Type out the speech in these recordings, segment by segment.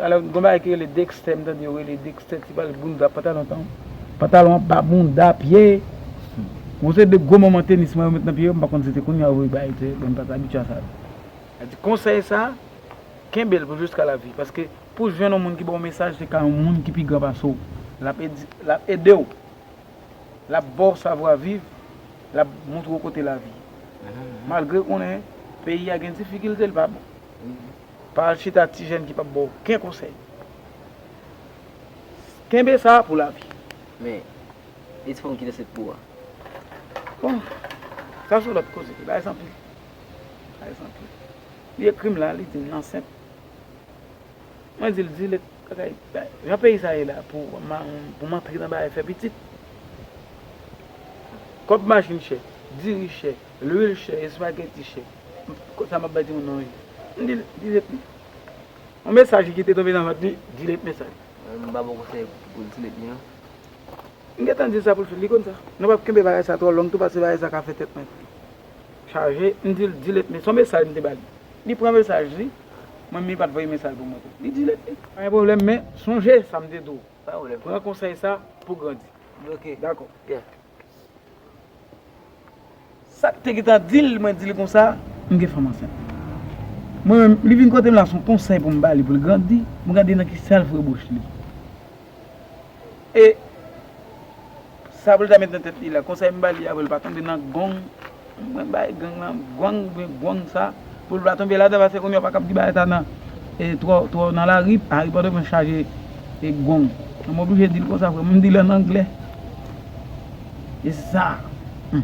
Talè gon bagay ki rele Dexter m tande yo rele Dexter ti bal bounda pantalon tan pantalon an ba bounda pye bon se de gwo manman tenis mwen yo met nan pye yo m pa konn si se kounya yo voye bay tè bon m pat abitye a sa mwen di konsèy sa kenbe l pou jiska lavi paske pou w jwenn yon moun ki ba w mesaj se ka yon moun ki pi gran pase w lap edi lap ede w lap ba w savwa viv lap montre w kote lavi malgre konnen peyi a gen difikilte l pa bon. Pa al chita ak ti jèn ki pap baw oken konsèy. Kenbe sa pou lavi. Men, e ti fanm ki ansent pou ou a? Bon, sa son lòt koze. Li bay egzanp li. Li bay egzanp li. Li ekri m la, li di m l ansent. Mwen di l zile bagay, jan peyi sa ye la pou m antre nan bagay fè pitit. Kòb machin chè, diri chè. Lwil chè, espageti chè. Konsa m ap bay timoun nan manje. M di l, di let mi. On mesaj ki te tonbe nan vant li, di let mesaj. M pa ba w konsèy pou l di let mi non. M gen tan di l sa pou l fè, li konn sa. Nou p ap kenbe bagay sa twò long tou paske bagay sa ka fè tèt mwen chaje. M di l, di let mi. S on mesaj m te ba li. Li pran mesaj li, mwen menm li pa t voye mesaj pou mwen tou. Li di let mi. Pa gen pwoblèm men sonje sa m te di w. Pa gen pwoblèm. Pran konsèy sa pou w grandi. Oke. Dakò. Sak te gentan dil mwen dil konsa m gen fanm ansent. Mwen menm li vin kotem la son konsèy poum bali poul grandi m gade nan ki self rebouche li e sa poul ta met nan tèt li la konsèy m bali a poul pa tonbe nan gong Mwen bay gang lan gwang oubyen gwong sa poul pa tonbe ladan pase kounya ou pa kab di bagay sa nan twò twò nan lari ari pòtoprens chaje gwong mwen oblije dil konsa frèm m dil an anglè e sa humm.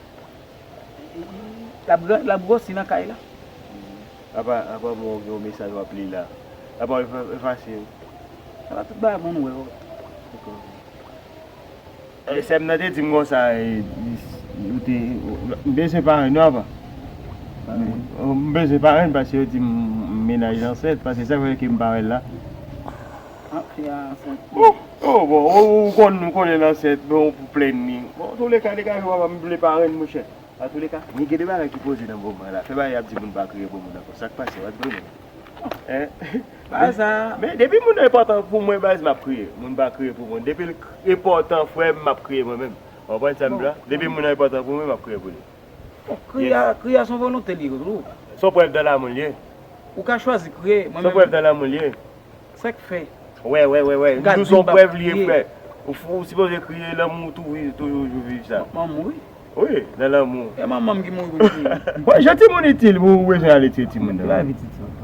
Lap gròsi nan kay la. Apa mwen ou gen yon mesaj wap li la. Apa ou efase yo. Apa tout bagay moun wè yo. Sèm nan te dim konsa ou te m bezwen parenn yo apa. M bezwen parenn paske yo dim menaj ansent paske sak fè kem parèn la. Ou bon ou konn nou konnen nan sè bon pou plenn ni. Bon an tou le ka degaje wap ap vle parenn mouche. An tou le ka men gen de bagay ki poze nan moman la fè bagay yap di moun pa kriye pou moun ankò sak pase wap goumen hein. Men depi moun nan enpòtan pou mwen baz map kriye moun pa kriye pou moun depil enpòtan frèm map kriye mwen menm ou konprann sam di la depi moun nan enpòtan pou mwen map kriye pou li. Kriye a kriye a son volonte li tou. Son prèv dan lamoul li ye. Ou ka chwazi kriye. Son prèv dan lamoul li ye. Sèk fè. Wè wè wè wè. Ou ka di son prèv li ye frè. Ou sipoze kriye lanmou ou tou viv tou yon jou viv sa. Mwen mouri. Wi nan lanmou. E manmanm ki mouri pou m kriye. Jan timoun itil pou ou bezwen ale tiye timoun nan. Lavi ti timoun.